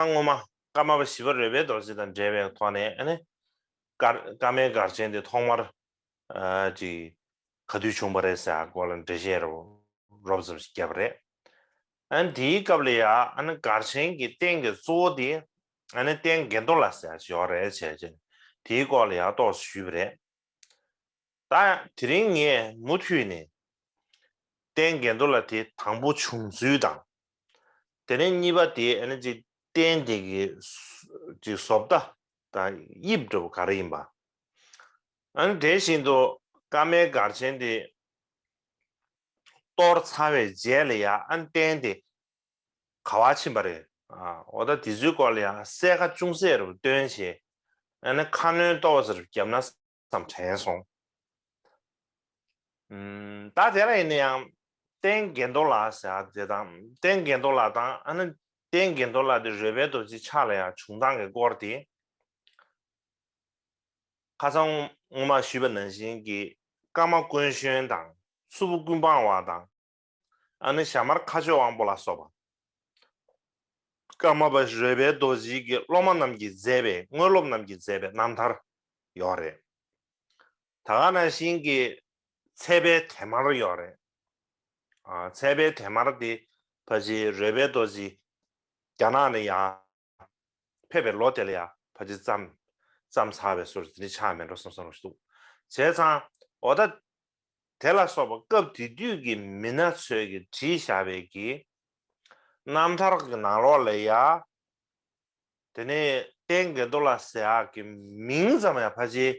སྔོན་མ། ཀརྨ་པ་བཞི་པ་རོལ་པའི་རྡོ་རྗེ་དང་འབྲེལ་བའི་ཐོག་ནས་ནི། ཀརྨའི་སྒར་ཆེན་དེ་ཐོག་མར། གི། ག་དུས་བྱུང་བ་རེད་ཟེར་སྐོར་ལ་འགྲེལ་བཤད་རོབ་ཙམ་ཞིག་བརྒྱབ་པ་རེད། དེའི་སྐབས་ལ་ཡང་སྒར་ཆེན་གྱི་རྟེན་གྱི་གཙོ་བོ་དེ། རྟེན་དགེ་མདོ་ལ་ཟེར་བ་ཞིག་ཡོད་རེད་བྱས་རྗེས་དེའི་སྐོར་ལ་ཡང་རྟོགས་བཟོ་ཞུས་པ་རེད། ད་ཡང་དེ་རིང་ངས་མུ་མཐུད་ནས་རྟེན་འགལ་འདུ་ལ་དེ་དང་པོ་བྱུང་ཚུལ་དང། དེ་རིང་གཉིས་པ་དེ་ཨ་ནི་ཅིག་རྟེན་དེ་གི་ཅིག་བཟོ་ལྟ་དང་དབྱིབས་འདྲ་བོ་ག་རེ་ཡིན་པ། ཨ་ནི་དེ་བཞིན་དུ་ཀ་མའི་སྒར་ཆེན་དེ་གཏོར་ཚར་བའི་རྗེས་ལ་ཡང་ཨ་ནི་རྟེན་དེ་ག་བ་ཕྱིན་པ་རེད། འོ་ད་དེ་ཚོའི་སྐོར་ལ་ཡང་གསལ་ཁ་ཅུང་ཟད་རུ་སྟོན་བྱེད། ཨ་ནི་ཁ་སྣོན་གཏོར་བ་ཚོ་རུ་བརྒྱབ་ན་ཙམ་དྲན་སོང། ད་དེ་འདྲ་ཡིན་ན་ཡང། བསྟན་དགེ་མདོ་ལ་ཟེར་བ་དེ་དང། བསྟན་དགེ་མདོ་ལ་དང་ཨ་ན། བསྟན་དགེ་མདོ་ལ་དེ་རོལ་པའི་རྡོ་རྗེ་ཕྱག་ལ་ཡང་བྱུང་སྟངས་ཀྱི་སྐོར་དེ། ཁ་སང་སྔོན་མ་ཞུས་པ་ནང་བཞིན་གྱི། ཀརྨ་དཀོན་གཞོན་དང། སུ་བུ་ཀུན་སྤངས་བ་དང། ཨ་ནི་ཞྭ་དམར་ཁ་ཆོས་དབང་པོ་ལ་སོགས་པ། ཀརྨ་པ་རོལ་པའི་རྡོ་རྗེའི་དགེ་སློབ་མ་རྣམས་ཀྱིས་མཛད་པའི་དངོས་སློབ་རྣམས་ཀྱིས་མཛད་པའི་རྣམ་ཐར་ཡོག་རེད། ད་ག་ན་ཤིང་གི་ཚལ་པའི་དེ་མར་ཡོག་རེད། ཚལ་པའི་དེ་མར་དེ་པ་ཅིའི་རོལ་པའི་རྡོ་རྗེའི་རྒྱ་ནག་ནི་ཡང། ཕེབས་པའི་ལོ་དེ་ལ་ཡང་ཕ་ཇི་བརྩམས་བརྩམས་ཚར་བའི་ཟུར་འདི་ནི་ཆགས་མེད་འགྲོ་བསམ་བསམ་རུང་ཞིག་འདུག་བྱས་ཙང། འོ་ད། དེ་ལ་སོགས་པ་སྐབས་དེ་དུས་ཀྱི་མི་སྣ་ཚོས་ཀྱི་བྲིས་བཞག་པའི་གི། རྣམ་ཐར་གྱི་ནང་ལོགས་ལས་ཡ། དེ་ནས་བསྟན་དགེ་རྡོ་ལ་ཟེར་གྱི་མིང་ཙམ་ཡང་ཕ་ཇིའི།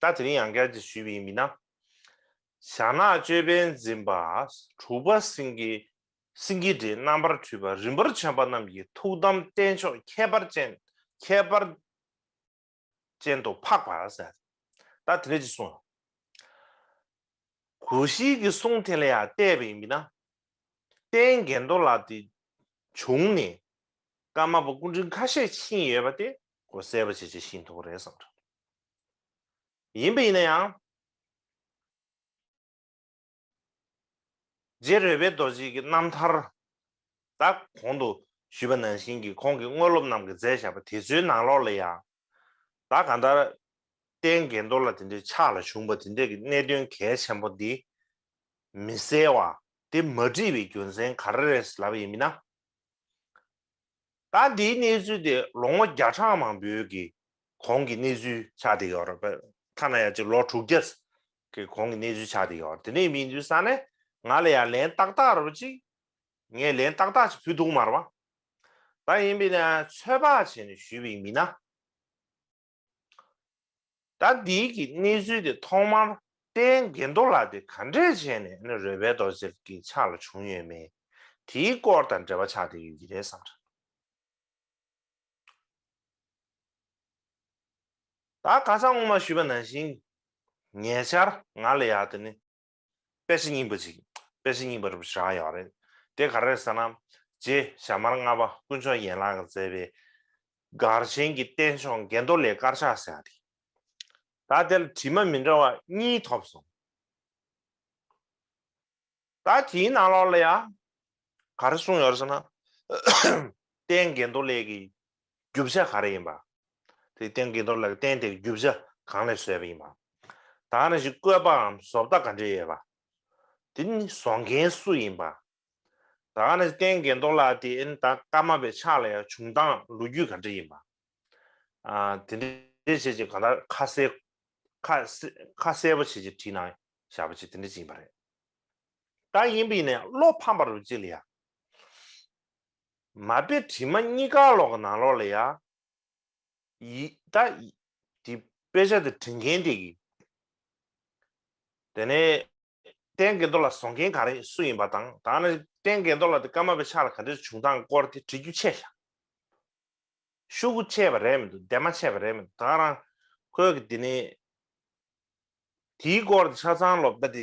ད་དེ་རིང་ཡང་བསྐྱར་དེ་ཞུས་པ་ཡིན་མིན་ན། ཞྭ་ནག་ཅོད་པན་འཛིན་པ་དྲུག་པ་སེང་གེ་སེང་གེ་སྒྲའི་རྣམ་པར་འཕྲུལ་པ་རིན་པོར་བྱོན་པ་རྣམས་ཀྱི་ཐུགས་དམ་རྟེན་མཆོག་ཁྱད་པར་ཅན་ཁྱད་པར་ཅན་དུ་འཕགས་པ་ཟེར། ད་དེ་འདྲ་ཅིག་གསུངས། གོ་ཤྲིས་ཀྱི་གསུང་དེ་ལ་ཡང་བལྟས་པ་ཡིན་མིན་ན། རྟེན་རྒྱན་རྡོ་ལ་དེ་བྱུང་ནས་ཀརྨ་པ་སྐུ་འཕྲེང་ཁ་ཤས་ཕྱིན་ཡོད་པ་དེ་གོ་གསལ་བ་བྱེད་བྱེད་ཤིན་ཐུ་བོ་རེད་བསམ་གྲབས། ཡིན་པ་ཡིན་ན་ཡང། རྗེ་རོལ་པའི་རྡོ་རྗེ་གི་རྣམ་ཐར་དག་གོང་དུ་ཞུས་པ་ནང་བཞིན་གྱི་ཁོང་གི་དངོས་སློབ་རྣམས་ཀྱི་མཛད་བཞག་པ་དེ་ཚོའི་ནང་ལོགས་ལ་ཡང། བདག་གང་ལྟར་རྟེན་འགལ་འདོར་ལ་དེ་འདྲའི་ཕྱག་ལ་བྱུང་བ་དེ་འདྲས་ཀྱི་གནད་དོན་གལ་ཆེན་པོ་འདི་མི་གསལ་བ་དེ་མ་བྲིས་པའི་རྒྱུ་མཚན་ག་རེ་རེད་ལབ་པ་ཡིན་མིན་ན། ད་འདིའི་གནས་ཚུལ་དེ་ལོ་ངོ་བརྒྱ་ཕྲག་མང་པོའི་གི་གོང་གི་གནས་ཚུལ་ཆགས་དེ་ཡོད་རེད་པས་ཐ་ན་ཡང་ཅིག་ལོ་དྲུག་བརྒྱ་གི་གོང་གི་གནས་ཚུལ་ཆགས་དེ་ཡོད་དེ་ནས་མིན་དུས་ས་ནས་ང་ལ་ཡང་ལན་ཏག་ཏག་རེ་བ་ཅིག་ངས་ལན་ཏག་ཏག་ཅིག་ཕུལ་འདུག་མར་བ་ད་ཡིན་པས་ན་ཚོད་དཔག་བྱས་ནས་ཞུས་པའི་མིན་ན། ད་འདི་གི་གནས་ཚུལ་དེ་ཐོག་མར་དཔལ་དགེ་མདོ་ལགས་དེ་ག་འདྲས་བྱས་ནས་ཨ་ནུ་རོལ་པའི་རྡོ་རྗེར་གྱི་ཕྱག་ལ་བྱུང་ཡོད་མེད་དེའི་སྐོར་དང་འབྲེལ་བ་ཆགས་བསྡད་ཡོད་ཀྱི་རེད་བསམ། ད་ག་ཚང་ངོ་མ་ཞུས་པ་ནང་བཞིན་ཉེ་ཆར་ང་ལ་ཡག་དེ་ནི། དཔེ་ཆ་རྙིང་པ་ཅིག་དཔེ་ཆ་རྙིང་པ་རུ་བཞག་ཡོད་རེད། དེ་ག་རེད་ཟེར་ན། རྗེ་ཞྭ་དམར་ལྔ་པ་དཀོན་མཆོག་ཡན་ལག་མཛད་པའི་གར་ཆེན་གྱི་རྟེན་མཆོག་འགས་མདོ་ལས་དཀར་ཆག་ཟེར་བ་དེ། ད་དེ་ལ་བྲིས་མ་མི་འདྲ་བ་གཉིས་ཐོབ་སོང། ད་དེའི་ནང་ལོགས་ལ་ཡང་ག་རེ་གསུངས་ཡོད་རེད་ཟེར་ན། རྟེན་འགས་མདོ་ལས་ཀྱི་རྒྱུ་བྱ་ག་རེ་ཡིན་པ། དེའི་སྟེང་དགེ་རྡོར་ལགས་བསྟན་དེ་རྒྱུ་བྱ་གང་ལས་བཟོས་པ་ཡིན་པ། ད་ནི་ཞིག་བཀོད་པའམ་བཟོ་ལྟ་ག་འདྲས་ཡོད་པ། དེ་ནི་བཟོ་མཁན་སུ་ཡིན་པ། ད་ནི་བསྟན་དགེ་རྡོར་ལགས་དེ་ད་སྐར་མ་པའི་ཕྱག་ལས་བྱུང་སྟངས་ལོ་རྒྱུས་ག་འདྲས་ཡིན་པ། དེ་འདྲས་བྱས་ཅིག་གང་ལྟར་ཁ་གསལ་ཁ་གསལ་པོ་བྱས་ཅིག་བྲིས་ན་ཞར་པོ་ཅིག་དེ་འདྲས་ཅིག་ཡིན་པ་རེད། ད་ཡིན་པས་ནས་བློ་ཕམ་པ་རུ་ཅིག་ལ་ཡ། མ་དཔེ་བྲིས་མ་གཉིས་ཀ་ལོག་གི་ནང་ལོག་ལ་ཡ། ཡི། ད། དེ་དཔེ་ཆ་དེ་བྲི་མཁན་དེ་གི། དེ་ནས། རྟེན་འགལ་འདོགས་ལ་བཟོ་མཁན་ག་རེད་སུ་ཡིན་པ་དང་ད་ནི་རྟེན་འགལ་འདོགས་ལ་དེ་སྐར་མ་པའི་ཕྱག་ལ་ག་འདྲེར་བྱུང་སྟངས་སྐོར་དེ་བྲི་རྒྱུ་ཆད་ཤག་ཤུག་གུ་ཆད་པ་རེད་མི་འདུག་འདས་མ་ཆད་པ་རེད་མི་འདུག་ད་རང་ཁོས་གི་དེ་ནི། དེའི་སྐོར་དེ་ཆ་ཚང་ལོབ་ད་དེ་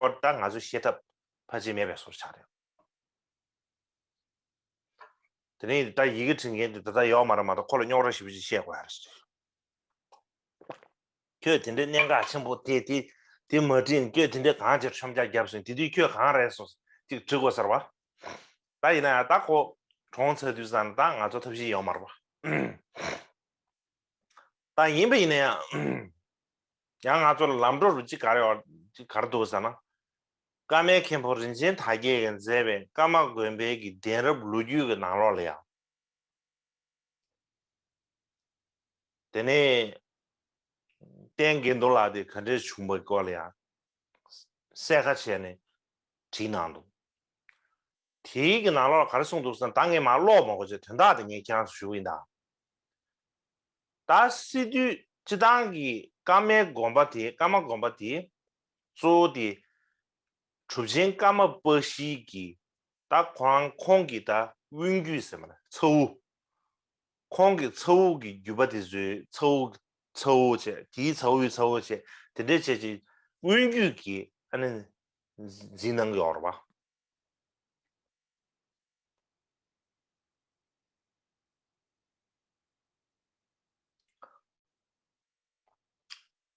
པར་ལྟར་ང་ཚོས་ཤེས་ཐབས་ཕལ་ཆེར་མེད་པའི་སོར་ཆགས་རེད། དེ་ནས་ད་ཡི་གེ་བྲིས་མཁན་དེ་ད་ལྟ་ཡོད་མ་རེད་མ་གཏོགས་ཁོ་ལ་རྙོག་ར་ཞིབ་ཕྲ་ཞིག་བཤད་དགོས་ཡ་རེད། ཁྱོད་དེ་འདྲའི་གནད་འགག་ཆེན་པོ་དེ་དེ་དེ་མ་བྲིས་ནས་ཁྱོད་དེ་འདྲའི་གང་ཅིར་ཆོམ་ཆ་བརྒྱབ་སོང་དེ་དུས་ཁྱོད་གང་རེད་སོགས་ཅིག་དྲི་དགོས་ཚར་བ། ད་ཡིན་ན་ཡང་ད་ཁོ་གྲོངས་ཚར་དུས་ད་ང་ཚོ་ཐབས་ཤེས་ཡོད་མ་རེད་པ། ད་ཡིན་པ་ཡིན་ན་ཡང། ཡང་ང་ཚོ་ལ་ལམ་འགྲོ་རུ་ཅི་ག་རེ་ཅི་ག་རེ་འདུག་ཟེར་ན། ཀ་མའི་མཁན་པོ་རིན་ཆེན་དར་རྒྱས་ཀྱིས་མཛད་པའི་ཀ་མ་དགོན་པའི་གྱི་གདན་རབས་ལོ་རྒྱུས་ཀྱི་ནང་ལོགས་ལ་ཡང། དེ་ནས། བསྟན་དགེ་འདུ་ལགས་དེ་ག་འདྲས་བྱུང་པའི་སྐོར་ལ་ཡང། གསལ་ཁ་བྱས་ནས་བྲིས་གནང་འདུག། དེའི་གི་ནང་ལོགས་ལ་ག་རེ་གསུངས་འདུག་ཟེར་ན་ད་ངས་མ་ཀློག་མ་གོ་ཆོད་དོན་དག་དེ་ངས་ཁྱེད་རང་ཚོར་ཞུ་གི་ཡིན་ད། ད་སི་ཏུས་སྤྱི་བཏང་གི་ཀ་མའི་དགོན་པ་དེ་ཀ་མ་དགོན་པ་དེ་གཙོ་བོ་དེ་གྲུབ་ཆེན་ཀ་མ་པ་ཤིའི་གི་ད་ཁོ་རང་ཁོང་གི་ད་དབུས་རྒྱུད་ཟེར་མ་ད་ཚ་དབུ། ཁོང་གི་ཚ་དབུ་གི་རྒྱུད་པ་དེ་ཚོའི་ཚ་དབུ་ཚ་དབུ་བྱས་དེའི་ཚ་དབུའི་ཚ་དབུ་བྱས་དེ་འདྲས་བྱས་ཅིག་དབུས་རྒྱུད་གི་ཨ་ནི་འཛིན་གནང་གི་ཨོ་རོ་པ།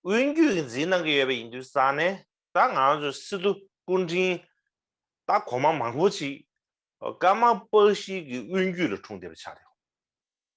དབུས་རྒྱུད་ཀྱི་འཛིན་གནང་གི་ཡོད་པ་ཡིན་དུས་བསམ་ནས་ད་ང་ཚོ་སི་ཏུ་སྐུ་དྲིན་ད་གོང་མ་མང་པོ་ཅིག་ཀརྨ་པ་ཞིག་གི་དབུས་རྒྱུད་ལ་འཁྲུངས་བསྡད་པ་ཆགས་རེད།